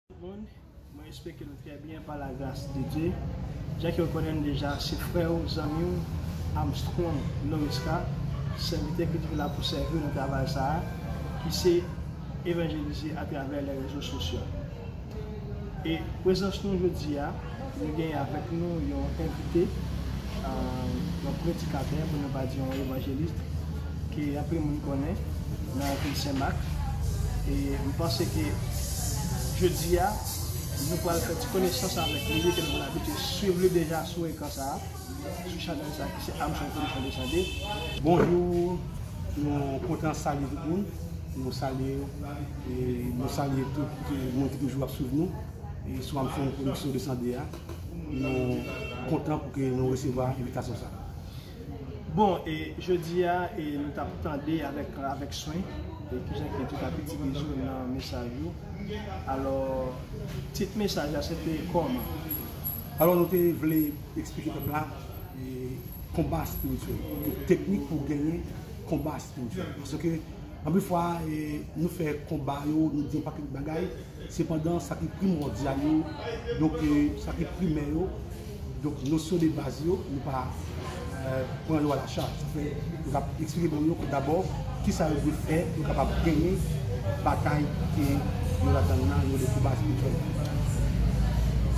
Tout moun, mwen espeke nou trè byen pa la gras de Dye. Jan ke ou konnen m deja, se frè ou, zanmi ou, Armstrong Noresca, sèvitè ki toujou la pou sèvi ou nan travay sa a, ki se evanjelize atravè lè rezo sosyo. E prezans nou jodi a, Nou gen avèk nou yon envite, yon predikatè pou nou pa di yon evanjelis ke anpil moun konnen nan vil Sen Mak. E m panse ke jodi a nou pral fè ti konesans avèk li ke nou konn abitye swiv li deja sou ekran sa a, sou chanèl sa a ki se Armstrong Production Dessalines. Bonjou, nou kontan salye tout moun, nou salye nou salye tout moun ki toujou ap swiv nou. E swa m fè yon pwodiksyon 202 a, nou kontan pou ke nou resevwa envitasyon sa. Bon, e jodi a, e nou tap tande avèk swen, e kijan ke tout apeti te jwe nan mesaj ou. Alò, tit mesaj la se te kòman? Alò nou te vle eksplike pèp la konba espirityèl, teknik pou genyen konba espirityèl. Paske, anpil fwa, nou fè konba yo, nou di yon pakèt bagay, Sepandan, sa ki primòdyal yo, donk sa ki primè yo, donk nosyon de baz yo, nou pa pran yo alachat. Sa fè, nou ka eksplike moun yo ke dabò, ki sa yo dwe fè pou yo kapab genyen batay ke yo ladan l lan, yo rele konba espirityèl la.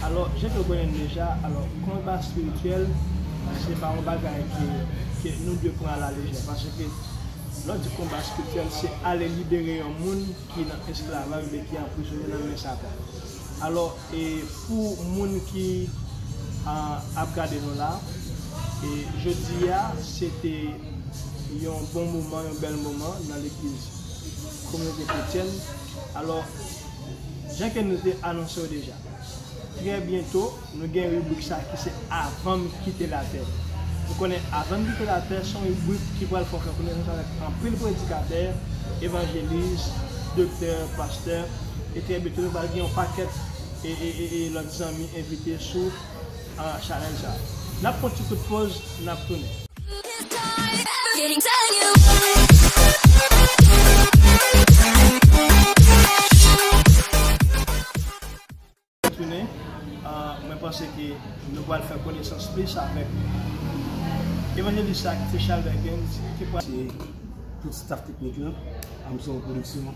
Alò, jan ke nou konnen l deja, alò, konba espirityèl, se pa yon bagay ke nou dwe pran alalejè. Paske, lè w di konba espirityèl, se ale libere yon moun ki nan esklavaj men ki anprizone nan men satan alò e pou moun ki ap gade nou la e jodi a se te yon bon moman yon bèl moman nan legliz kominote kretyèn alò jan ke nou te anonse yo deja trè byento. Nou gen ribrik sa ki se Avan m kite latè. Nou konnen Avan m kite latè se yon ribrik ki pral fè w fè konesans avèk anpil predikatè, evanjelis, doktè, pastè e trè byento nou pral gen yon pakèt lòt zanmi envite sou chanèl sa. N ap pran yon ti kout poz, n ap tounen. tounen mwen panse ke nou pral fè konesans plis avèk evanjelis sa ki se Charles Duckens ki pral se tout staff teknik lan Amsong Production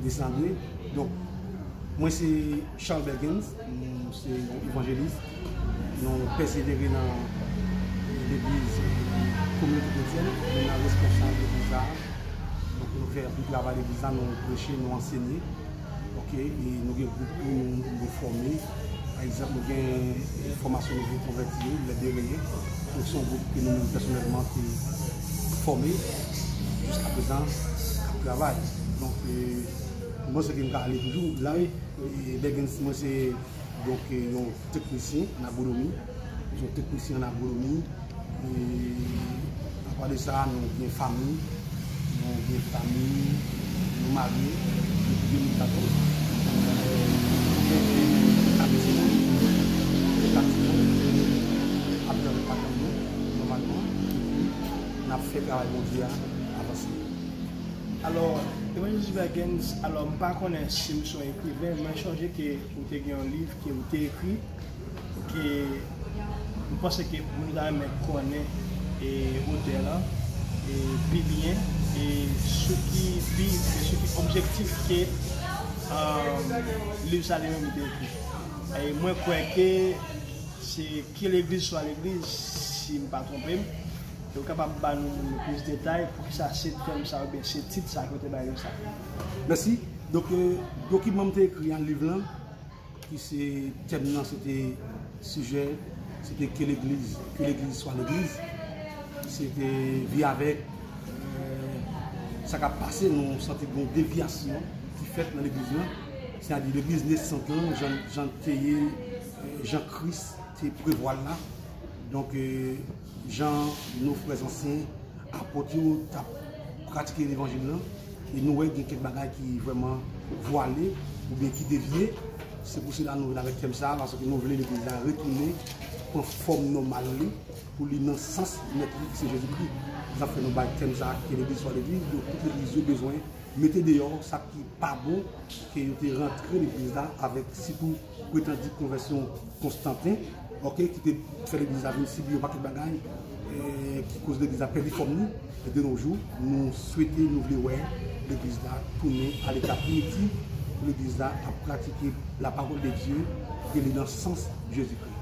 Desandre donk mwen se Charles Duckens mwen se yon evanjelis nou pèsevere nan legliz kominote kretyen nou nan responsab legliz sa nou fè anpil travay legliz la nou preche nou ansenye Ok e nou gen gwoup pou nou fòme pa egzanp nou gen fòmasyon nouvo konvèti yo lè de reye nou son gwoup ke nou menm pèsonèlman te fòme jiska prezan kap travay donk mwen panse ke m ka ale toujou la wi e dègèns mwen se donk yon Teknisyen an agwonomi, nou son teknisyen an agwonomi, a pa de sa nou gen fami, nou gen fami, nou marye, nou gen yon katon, nou gen yon katon se yon, nou gen katon se yon, a pè yon katon nou, nou man nou, e pi nan ap fè travay bon Dye a avanse. Alò, Evangelist Vergens, alò m pa konnen si m son ekriven, mwen chonje ke ou te gen yon liv, ke ou te ekri ke m panse ke moun yo ta renmen konnen otè lan pi byen e sou ki bi e sou ki objektif ke liv sa li menm li te ekri. Mwen kwè ke se Ki legliz swa legliz si m pa twonpe m, e ou kapab ba nou plis detay poukisa se tèm sa oubyen se tit sa ke ou te bay liv sa. Mèsi. Donk dokiman m te ekri an, liv lan. Ki se tèm nan se te sijè se te ke legliz ke legliz swa legliz se te vi avèk sa kap pase nou sante gen yon devyasyon ki fèt nan legliz lan se a di legliz nesant lan jan l te ye jan kris te prevwa l la donk Jan nou frè zansyen, apot yo t ap pratike levanjil lan, e nou wè gen kèk bagay ki vrèman vwale oubyen ki devye. Se pou sela nou vin avèk tèm sa a, paske nou vle legliz la retounen pran fòm nòmal li, pou li nan sans mèt li ki se Jezi Kri. Se sa k fè nou bay tèm sa a ke legliz swa legliz. Donk tout legliz yo bezwen mete deyò sa ki pa bon, ke yo te rantre legliz la avèk sitou. pretandi konvèsyon Konstanten ok ki te fè legliz la vin sibi yon pakèt bagay ki koz legliz la pèdi fòm li e de no jou nou swete nou vle wè legliz la tounen a leta primitif pou legliz la ap pratike la pawòl de Dye e li nan sans Jezi Kri.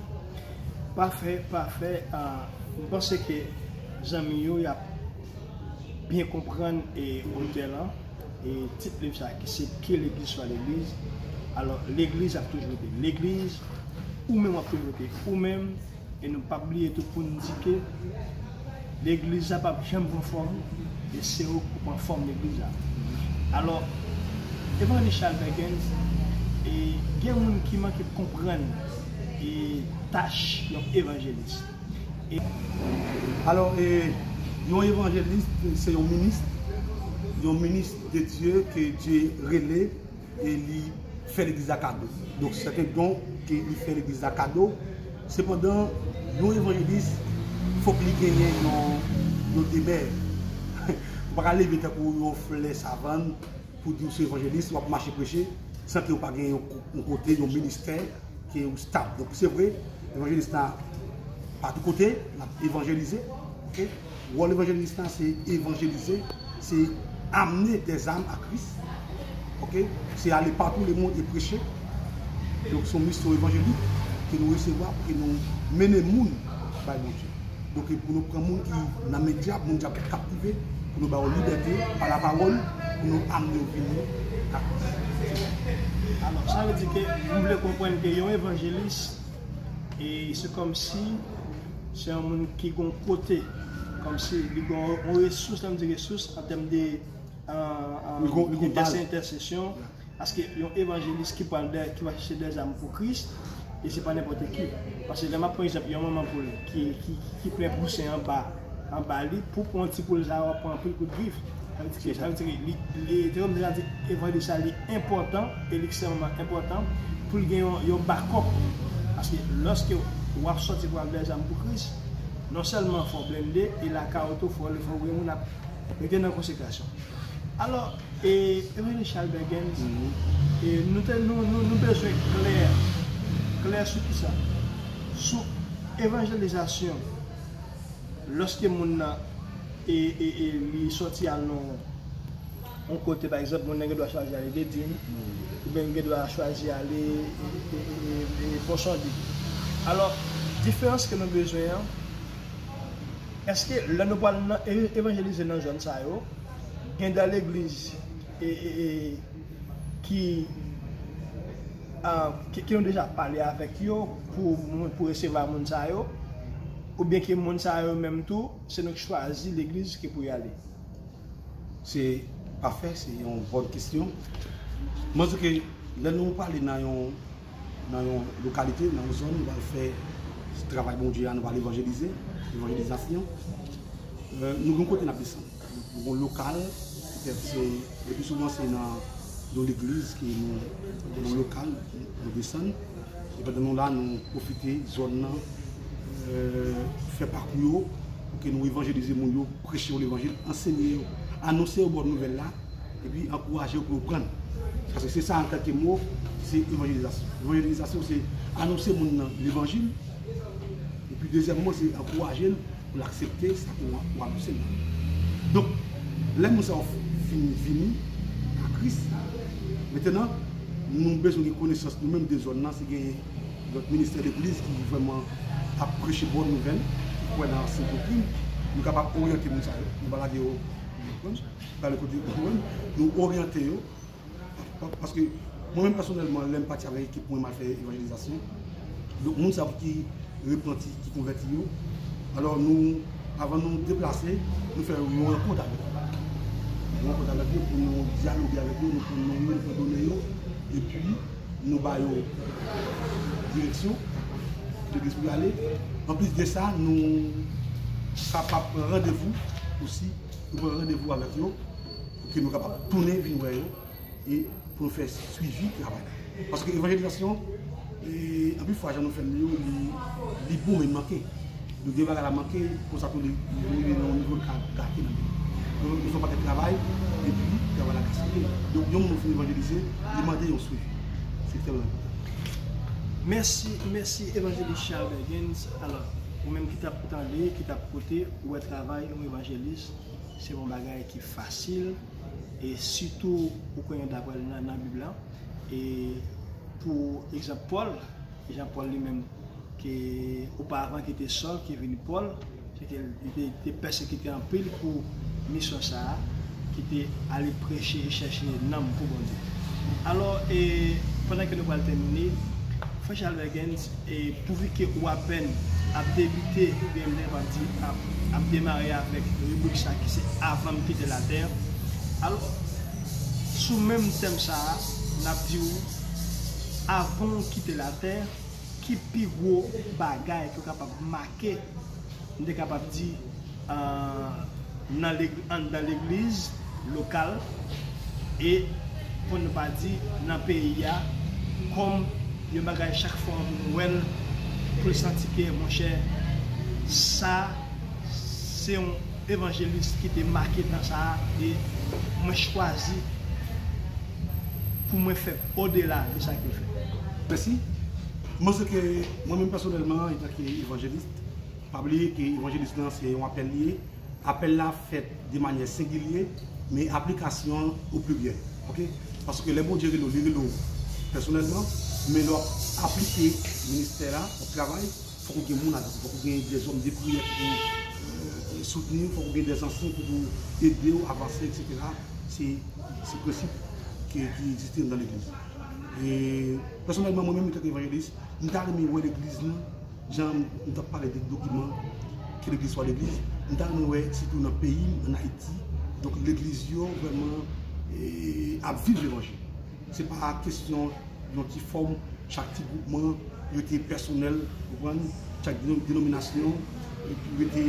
Pafè pafè m panse ke zanmi yo yap byen konprann e otè lan. E tit liv sa ki se Pye Legliz Fwa Legliz, alò Legliz ap toujou rete Legliz, ou menm w ap toujou rete ou menm, e nou pap bliye tou pou n di ke Legliz la pap janm pran fòm, e se ou k pou pran fòm Legliz la. Alò, Evanjelis Chal Bèkens, e gen moun ki manke konprann e tach yon Evanjelis. Alò, yon evanjelis se yon minis, yon minis de Dye ke Dye rele e li fè legliz la kado. Donk se te don ke li fè legliz la kado. Sepandan, yon evanjelis fòk li genyen yon demè. Ou pa ka leve tankou yon flè savann. pou di ou se evanjelis, wap mache preche, san ke ou pa gen yon kote, yon ministè, ke ou stab. Donk se vre, evanjelis la, pa tou kote, nan evanjelize, ok, wòl evanjelis la se evanjelize, se amne de zam a kris, ok, se ale patou le moun e preche, donk son misyon evanjelik, ke nou resevwa, pou ke nou mene moun, bay moun. Donk pou nou pran moun ki nan men dyab, moun dyab te kaptive, pou nou ba yo libète pa lapawòl, pou nou amne yo vini nan Kris. Alò, sa vle di ke nou vle konprann ke yon evanjelis e se kòmsi se yon moun ki gon kote, kòmsi li gon yon resous, lè m di resous an tèm de entèsesyon. Paske yon evanjelis ki pwal dè ki pwal chèche dè zam pou kris e se pa nenpòte ki paske lè map pran egzanp yon manman poul ki ki plen pousen anba anba li pou pran yon ti poul sa wap pran anpil kout grif sa vle di ki sa vle di li li se kòmsi lap di evanjelis sa li enpòtan e li ekstrèmman enpòtan poul gen yon yon bakòp paske lòske wap sòti pwal dè zam pou kris non sèlman fòw blende e lakay ou tou fòw gen moun ap. Yo te nan konsekrasyon. Alò, e, Emeline Charles Bergens, e, nou te, nou, nou, nou bezwen klè, klè sou ki sa? Sou evanjelizasyon, lòske moun nan, e, e, e, li sòti al nan yon kote, pa egzanp, moun nan gen dwa chwazi ale Dedin, oubyen li gen dwa chwazi ale, e, e, e, Ponsonde. Alò, diferans ke nou bezwen an. Eske lè nou pwal nan evanjelize nan zòn sa yo gen de legliz ki nou deja pale avèk yo pou resevwa moun sa yo oubyen ke moun sa yo menm tou se nou ki chwazi legliz ke pou y ale? Se pafè, se yon bon kesyon. Mwen di ke lè nou pale nan yon. nan yon lokalite, nan yon zòn, nou pral fè travay Bondye a, nou pral evanjelize, evanjelizasyon. Nou gen kote n ap desann. Nou gen lokal, petèt se, le pi souvan se nan yon legliz ke nou gen yon lokal pou nou desann. E pandan nou la, nou pwofite zòn nan, fè pakou yo, pou ke nou evanjelize moun yo, preche yo levanjil, ansenye yo, anonse yo bon nouvèl la. Epi ankouraje yo pou yo pran. Paske se sa an kèlke mo, se evanjelizasyon. Evanjelizasyon se anonse moun nan levanjil. Epi dezyèmman se ankouraje l pou l aksepte sa ke ou anonse l la. Donk, lè moun sa yo fin vini a Kris, mentenan nou bezwen gen konesans nou menm de zòn nan si gen lòt ministè legliz ki vrèman ap preche bon nouvèl, ki kwè nan ansyen doktrin, nou kapab oryante moun sa yo. Nou pa lage yo, nou konprann? Gade kote nou menm nou oryante yo paske mwen menm pèsonèlman lèm pati avèk ekip mwen mal fè evanjelizasyon donk moun sa yo ki repanti ki konvèti yo alò nou avan nou deplase nou fè yon rankont avèk yo yon rankont avèk yo pou nou dyaloge avèk yo nou pran non yo nou pran done yo epi nou ba yo direksyon legliz pou yo ale anplis de sa nou kapab pran randevou osi Nou pran randevou avèk yo pou ke nou kapab tounen vin wè yo e pou nou fè swivi travay la. Paske evanjelizasyon, anpil fwa jan nou fè l yo, li bon men li manke. Nou gen bagay la manke, konsa tou li rive nan yon nivo l ka gate nan men nou. Donk nou bezwen pakèt travay epi travay la gaspiye. Donk yon moun fin evanjelize, li mande yon swivi. Se tèlman enpòtan. Mèsi, mèsi Evanjelis Charles Bergens. Alò, ou menm ki t ap tande, ki t ap koute. Ou wè travay yon evanjelis se yon bagay ki fasil e sitou ou konnen dapre nan bib la e pou egzanp Paul, jan Paul li menm ke oparvan ki te Saul ki vin Paul se ke li te pèsekite anpil pou misyon sa a ki te ale preche e chèche nanm pou Bondye. Alò e pandan ke nou pral tèmine frè Chalbergens. E pouvi ke ou apèn ap debite oubyen menm ap di ap demare avèk ribrik sa ki se avan m kite latè, alò sou menm tèm sa a n ap di ou avan ou kite latè ki pi gwo bagay ke w kapab make? Ke m te kapab di nan anndan legliz lokal e pou nou pa di nan peyi a kòm yon bagay chak fwa ou vin wè l pou l santi ke monchè sa se yon evanjelis ki te make tan sa a e mwen chwazi pou mwen fè odela de sa ke l fè. Mèsi. M panse ke mwen menm pèsonèlman etanke evanjelis, pa bliye ke evanjelis lan se yon apèl li ye, apèl la fèt de manyè sengilye, men aplikasyon l o pliryèl. Ok? Paske lè Bondye rele w, li rele w pèsonèlman, men lè w ap aplike ministè a, w ap travay, fòk ou gen moun avèk ou, fòk ou gen dèzòm de priyè ki pou soutni w, fòk ou gen dèzansyen ki pou ede w avanse eksetera. Se prensip ki egziste anndan legliz. Pèsonèlman mwen menm etanke evanjelis, m ta renmen wè legliz nou jan nou t ap pale de dokiman ke legliz fwa legliz, m ta renmen wè sitou nan peyi m, an Ayiti, donk legliz yo vrèman ap viv levanjil. Se pa kesyon yon ti fòm, chak ti gwoupman rete pèsonèl, ou konprann, chak denominasyon. Epi rete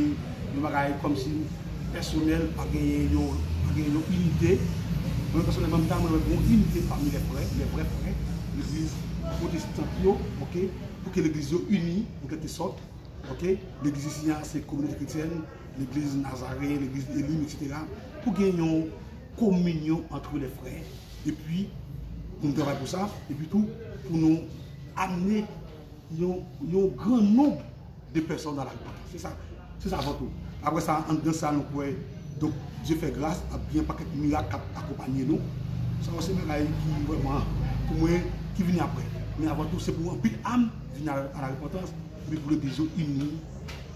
yon bagay kòmsi pèsonèl pa gen yon pa gen yon inite. Mwen pèsonèlman m ta renmen wè gon inite pami lè frè, lè vrè frè legliz pwotestant yo ok pou ke legliz yo ini an kèlke sòt ok. Legliz isi a se kominòte kretyèn, legliz Nazaren, legliz Elim eksetera pou gen yon kominyon antre lè frè epi pou nou travay pou sa epi tou pou nou amne yon yon gran nonb. 2 pèsòn nan lari paka fè sa, se sa vant ou. Aprè sa, anndan sa nou kwè, donk Dye fè gras ap gen yon pakèt mirak k ap akonpanye nou. Sa yo se bagay ki vrèman, pou mwen, ki vini aprè. Men avan tou, se pou anpil am vini alarepantans, epi pou legliz yo ini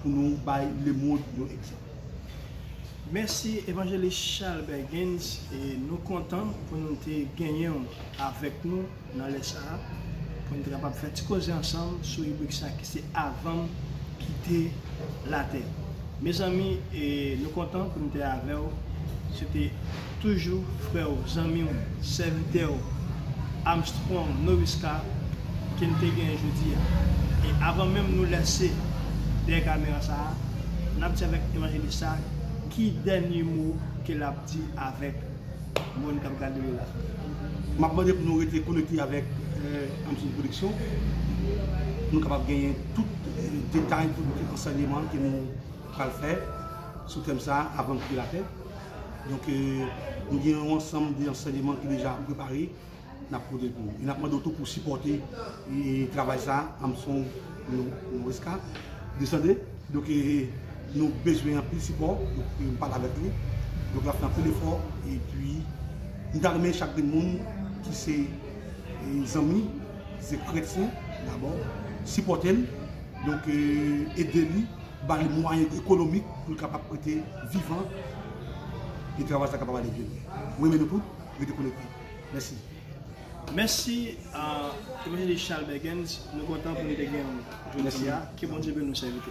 pou nou bay lemond yon egzanp. Mèsi Evanjelis Charles Bergens, nou kontan pou nou te genyen w avèk nou. Nan lè sa a, pou n te kapab fè ti koze ansanm sou ribrik sa ki se Avan m kite latè. Mezanmi, nou kontan pou n te avè w. Se te toujou frè w, zanmi w, sèvitè w, Armstrong Noviska ke n te genyen jodi a. E avan menm nou lèse dèyè kamera sa a, n ap di avèk evanjelis sa a ki dènye mo ke l ap di avèk. Moun kap gade nou la. Map mande pou nou rete konekte avèk Amsony Production pou nou kapab genyen tout detay, tout ansèyeman ke nou pral fè sou tèm sa a avan nou kite latè. Donk nou gen yon ansanm de ansèyeman ki deja prepare N ap pote pou ou. E n ap mande w tou pou w sipòte travay sa a. Amsong Noresca, Desande. Donk, nou bezwen anpil sipò. Donk, m pale avèk li. Donk, l ap fè anpil efò. Epi, m ta renmen chak de moun ki se zanmi, ki se kretyen dabò, sipòte l. Donk, ede li, ba li mwayen ekonomik pou l kapab rete vivan e travay sa a kapab ale byen lwen. M renmen nou tout. Rete konekte. Mèsi. Mèsi a Evangelist Charles Bergens nou kontan pou nou te genyen jodi a ke Bondye beni w sèvitè.